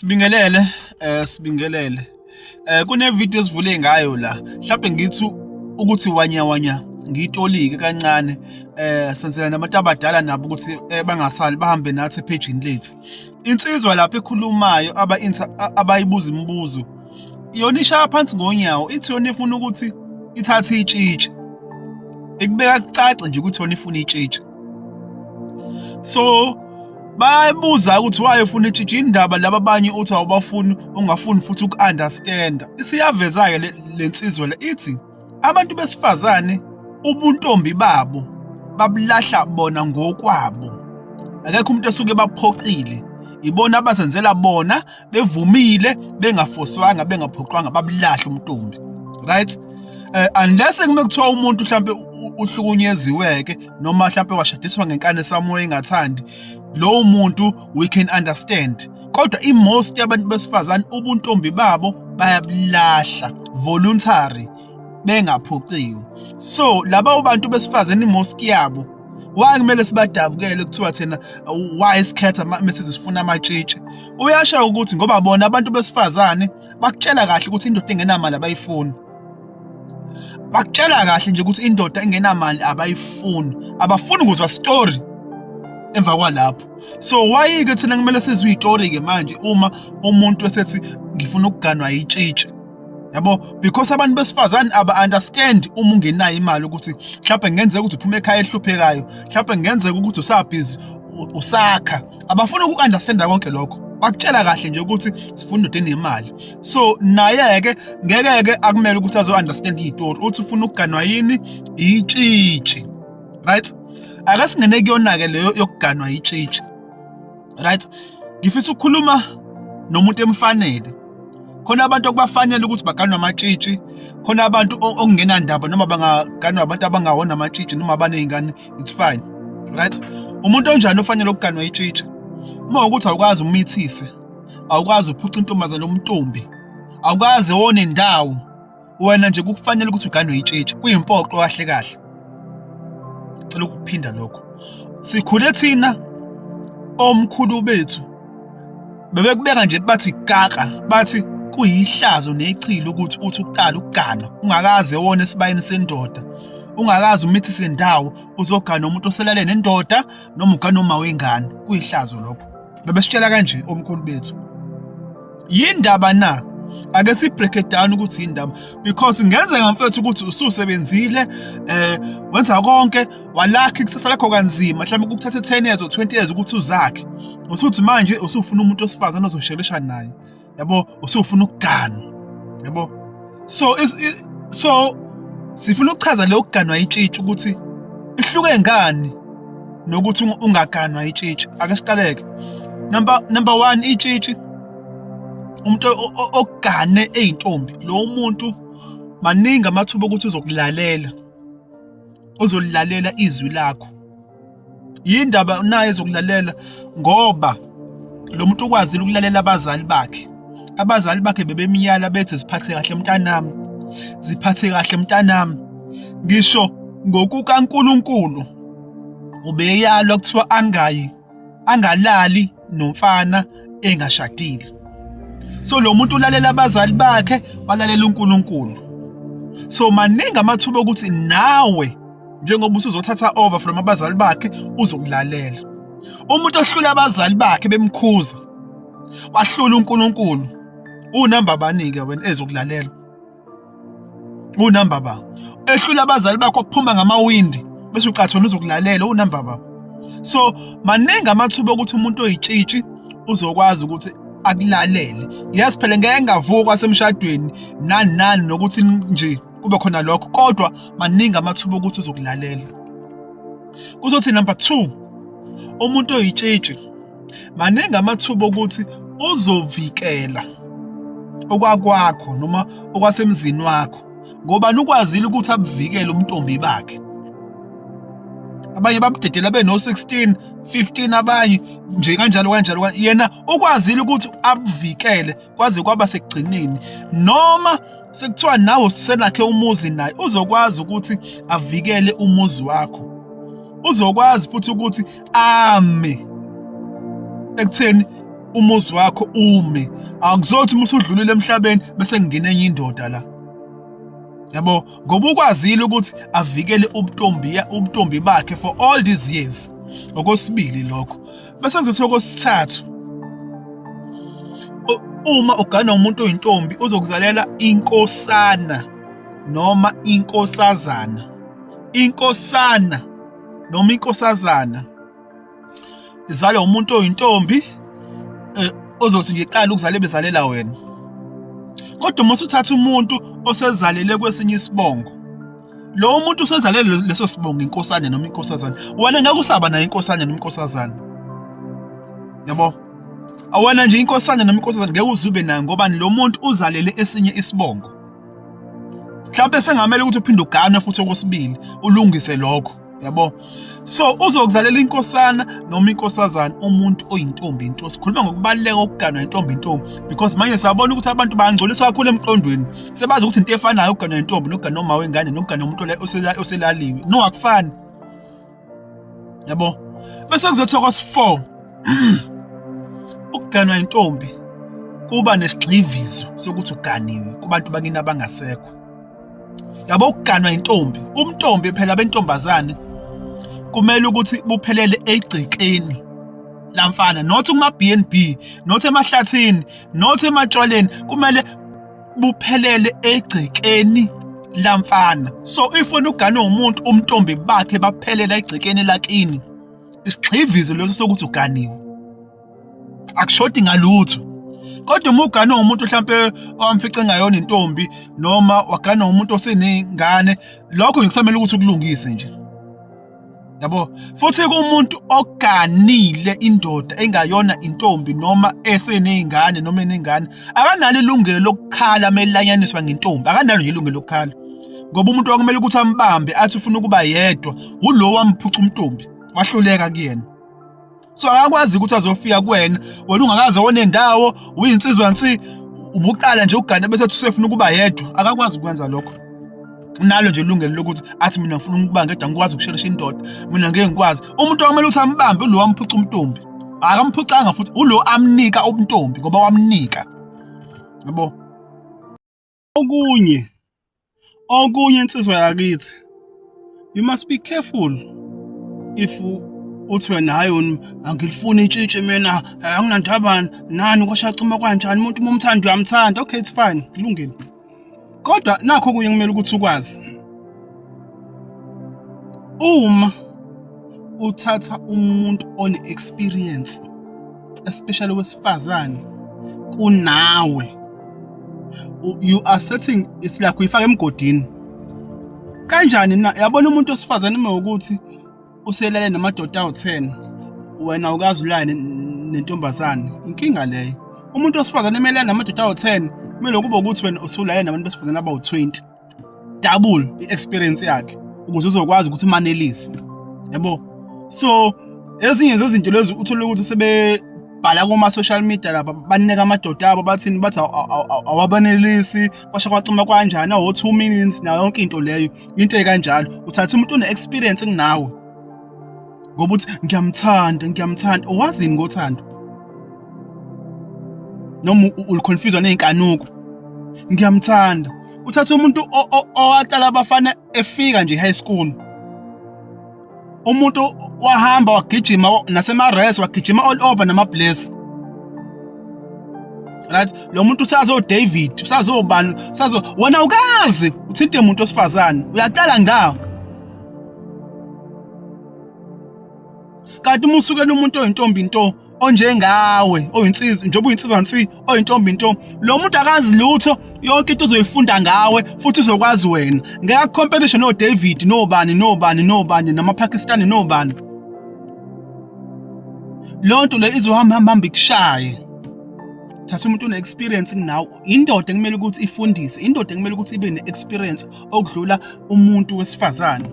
Sibingelele eh sibingelele eh kune video esivule ngayo la mhlawumbe ngithi ukuthi wanya wanya ngitolike kancane eh senzela nabantu abadala nabo ukuthi eh, bangasali bahambe nathi page lethu insizwa lapho ekhulumayo aba abayibuza imibuzo yona ishaya phansi ngonyawo ithi yona ifuna ukuthi ithathe itshitshi ikubeka kucace nje ukuthi yona ifuna itshitshi so bayabuza ukuthi waye ufuna itshintshe indaba laba abanye uthi awubafuni ungafuni futhi uku-understanda isiyaveza-ke le nsizwa le ithi abantu besifazane ubuntombi babo babulahla bona ngokwabo akekho umuntu esuke baphoqile ibona abazenzela bona bevumile bengafoswanga bengaphoqwanga babulahle umntombi right eh unless kume kuthiwa umuntu mhlambe uhlukunyeziweke noma mhlambe washadiswa ngenkani esamoya engathandi lowo muntu we can understand kodwa imost yabantu besifazane ubuntombi babo bayabulahla voluntary bengaphoqiwe so laba ubantu besifazane imoski yabo why kumele sibadabukele kuthiwa thina why sikhetha message sifuna amatshitshi uyasha ukuthi ngoba bona abantu besifazane bakutshela kahle ukuthi indoda engenamali abayifuni bakutshela kahle nje ukuthi indoda engenamali abayifuni abafuni ukuzwa story emva kwalapho so why ke thina kumele sizwe istory ke manje uma umuntu esethi ngifuna ukuganwa yitshitshi yabo because abantu besifazane aba-understand uma ungenayo imali ukuthi mhlawumbe kungenzeka ukuthi uphuma ekhaya ehluphekayo mhlawumbe kungenzeka ukuthi usabhizi usakha abafuna uku-understanda konke lokho bakutshela kahle nje ukuthi sifuna indoda enemali so naye-ke ngeke-ke akumele ukuthi azo-understand iy'tori uthi ufuna ukuganwa yini itshitshi right ake singene kuyona-ke leyo yokuganwa yitshitshi right ngifisa ukukhuluma nomuntu emfanele khona abantu okubafanele ukuthi baganwe amatshitshi khona abantu okungenandaba noma bangaganwa abantu abangawona amatshitshi noma abaney'ngane it's fine right umuntu onjani ofanele ukuganwa itshitshi uma ukuthi awukwazi umithise awukwazi uphuca intombazane umntombi awukwazi wone ndawo wena nje kukufanele ukuthi uganwe itshitshi kuyimpoqo kahle kahle cela ukuphinda lokho sikhule thina omkhulu bethu bebekubeka nje bathi kaka bathi kuyihlazo nechilo ukuthi uthi uqala ukugana ungakaze wona esibayeni sendoda ungakazi umithi sendawo uzogana umuntu oselale nendoda noma ugana uma wengane kuyihlazo lokho Bebesitshela kanje omkhulu bethu. Yindaba na ake si break it down ukuthi indaba because ngenzeka mfethu ukuthi ususebenzile eh wenza konke walakhi kusasa lakho kanzima mhlawumbe kukuthatha 10 years or 20 years ukuthi uzakhe usuthi manje usufuna umuntu osifazana ozoshelisha naye yabo usufuna ukuganwa yabo so is, is, so sifuna ukuchaza le ukuganwa itshitshi ukuthi ihluke ngani nokuthi ungaganwa itshitshi ake siqaleke number number 1 itshitshi umuntu ogane ezintombi lo muntu maningi amathuba ukuthi uzokulalela uzolilalela izwi lakho yindaba naye ezokulalela ngoba lo muntu ukwazile ukulalela abazali bakhe abazali bakhe bebemyala bethi ziphathe kahle mntanami ziphathe kahle mntanami ngisho ngokukaNkuluNkulu ubeyalwa kuthiwa angayi angalali nomfana engashadile so lo muntu ulalela abazali bakhe walalela uNkulunkulu so maningi amathuba okuthi nawe njengoba usuzothatha over from abazali bakhe uzokulalela umuntu ohlula abazali bakhe bemkhuza wahlula uNkulunkulu unamba abanike wena ezokulalela unumber ba ehlula abazali bakho kuphuma ngamawindi bese ucathona uzokulalela unumber ba so maningi amathuba okuthi umuntu oyitshitshi uzokwazi ukuthi akulalele yes phela ngeke ngavukwa semshadweni nani nani nokuthi nje kube khona lokho kodwa maningi amathuba okuthi uzokulalela kuzothi number 2 umuntu oyitshitshi maningi amathuba okuthi uzovikela okwakwakho noma okwasemzini wakho ngoba nukwazile ukuthi abuvikele ubuntombi bakhe abanye babudedela beno-16 15 abanye nje kanjalo kanjalo yena ukwazile ukuthi abuvikele kwaze kwaba sekugcineni noma sekuthiwa nawe uselakhe umuzi naye uzokwazi ukuthi avikele umuzi wakho uzokwazi futhi ukuthi ame ekutheni umuzi wakho ume akuzothi uma usudlulile emhlabeni bese ngingena enye indoda la yabo ngoba ukwazile ukuthi avikele ubutombi ubutombi bakhe for all these years okwesibili lokho bese ngizothiwa kosithathu uma ugana umuntu oyintombi uzokuzalela inkosana noma inkosazana inkosana noma inkosazana izalwa umuntu oyintombi eh, ozothi ngiqala ukuzala bezalela wena kodwa uma usuthatha umuntu osezalele kwesinye isibongo Lo muntu usezale leso sibongo inkosana noma inkosazana. Wena ngeke usaba naye inkosana noma inkosazana. Yabo? Awena nje inkosana noma inkosazana ngeke uzube nayo ngoba lo muntu uzalele esinye isibongo. Mhlawumbe sengamele ukuthi uphinde uganwe futhi okwesibili ulungise lokho. yabo so uzokuzalela inkosana noma inkosazana umuntu oyintombi into sikhuluma ngokubaluleka kokuganwa intombi intombi because manje siyabona ukuthi abantu bangcoliswa kakhulu emqondweni sebazi ukuthi into efanayo ukuganwa intombi nokuganwa uma wengane nokuganwa umuntu oselaliwe no akufani yabo bese kuzothiwa kwasi-4 ukuganwa intombi kuba nesigxivizo sokuthi uganiwe kubantu bakini abangasekho yabo ukuganwa intombi umntombi phela bentombazane kumele ukuthi buphelele egcekeni lamfana not kuma BNB not emahlathini not ematshwaleni kumele buphelele egcekeni lamfana so if wena ugane umuntu umntombi bakhe baphelela egcekeni lakini isigxivizo leso sokuthi uganiwe akushodi ngalutho kodwa uma uganwe umuntu mhlampe owamfice ngayona intombi noma waganwa umuntu oseney'ngane lokho ngikusamele ukuthi ukulungise nje yabo futhi kumuntu oganile indoda engayona intombi noma eseney'ngane noma eney'ngane akanalo ilungelo lokukhala melanyaniswa ngentombi akanalo nje ilungelo lokukhala ngoba umuntu wakumele ukuthi ambambe athi ufuna ukuba yedwa wulo wamphuca umntombi wahluleka kuyena so akakwazi ukuthi azofika kuwena wena ungakaze onendawo uyinsizwa nsi ubuqala nje ukugana bese usefuna ukuba yedwa akakwazi ukwenza lokho nalo nje ilungelo lokuthi athi mina ngifuna ukuba ngedwa ngikwazi ukushelisha indoda mina ngeke ngikwazi umuntu okumele ukuthi ambambe ulo wamphuca umntombi akamphucanga futhi ulo amnika ubuntombi ngoba wamnika yabo okunye okunye insizwa yakithi you must be careful if uthi wena hayi wena angilifuni intshitshi mina eh, anginandaba nani kwashacuma kwanjani umuntu uma umthanda uyamthanda okay it's fine kulungile kodwa nakho kunye kumele ukuthi ukwazi uma uthatha umuntu one experience especially wesifazane kunawe you are setting it's like uyifaka emgodini kanjani na yabona umuntu osifazane uma ukuthi uselale namadoda awu-10 wena ukazi ulale nentombazane inkinga leyo umuntu osifazane emelana namadoda awu-10 kumele kube ukuthi wena usulale nabantu besifazane abawu-20 double i-experience yakhe ukuze uzokwazi ukuthi umanelise yabo so ezinye zezinto lezi uthole ukuthi sebebhala kuma-social media lapha banika amadoda abo bathini bathi awabanelisi kwasho kwacima kwanjani awo-two minutes nayo yonke into leyo into ekanjalo uthatha umuntu une-experience kunawe ngoba uthi ngiyamthanda ngiyamthanda owazini ngothando noma uliconfuswa nezinkanuko ngiyamthanda uthatha umuntu owaqala abafana efika nje high school umuntu wahamba wagijima nasemares wagijima all over namabless right lo muntu usazo David usazobani usazo wena ukazi uthinte umuntu osifazane uyaqala ngawo kanti uma usukela umuntu oyintombi nto onjengawe oyinsizwa njengoba uyinsizwa nsi oyintombi nto lo muntu akazi lutho yonke into uzoyifunda ngawe futhi uzokwazi wena ngeke competition no David no bani no bani no bani nama Pakistani no bani lonto le izohamba hamba hamba ikushaye thatha umuntu une experience kunawe indoda ekumele ukuthi ifundise indoda ekumele ukuthi ibe ne experience okudlula umuntu wesifazane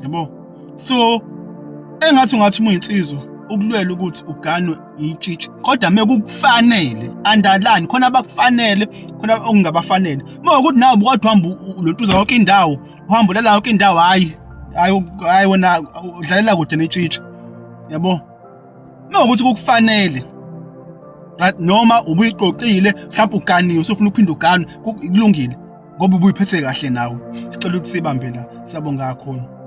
yabo so engathi ungathi muyinsizwa ukulwela ukuthi uganwe itshitshi kodwa mekukufanele andalani khona abakufanele khona okungabafanele uma ukuthi nawe bukodwa uhamba lontuza yonke indawo uhamba ulela yonke indawo hayi hayi hayi wena udlalela kude netshitshi yabo uma ukuthi kukufanele right noma ubuyiqoqile mhlawumbe uganiwe usufuna uphinde uganwe kulungile ngoba ubuyiphethe kahle nawe sicela ukuthi sibambe la sabonga kakhulu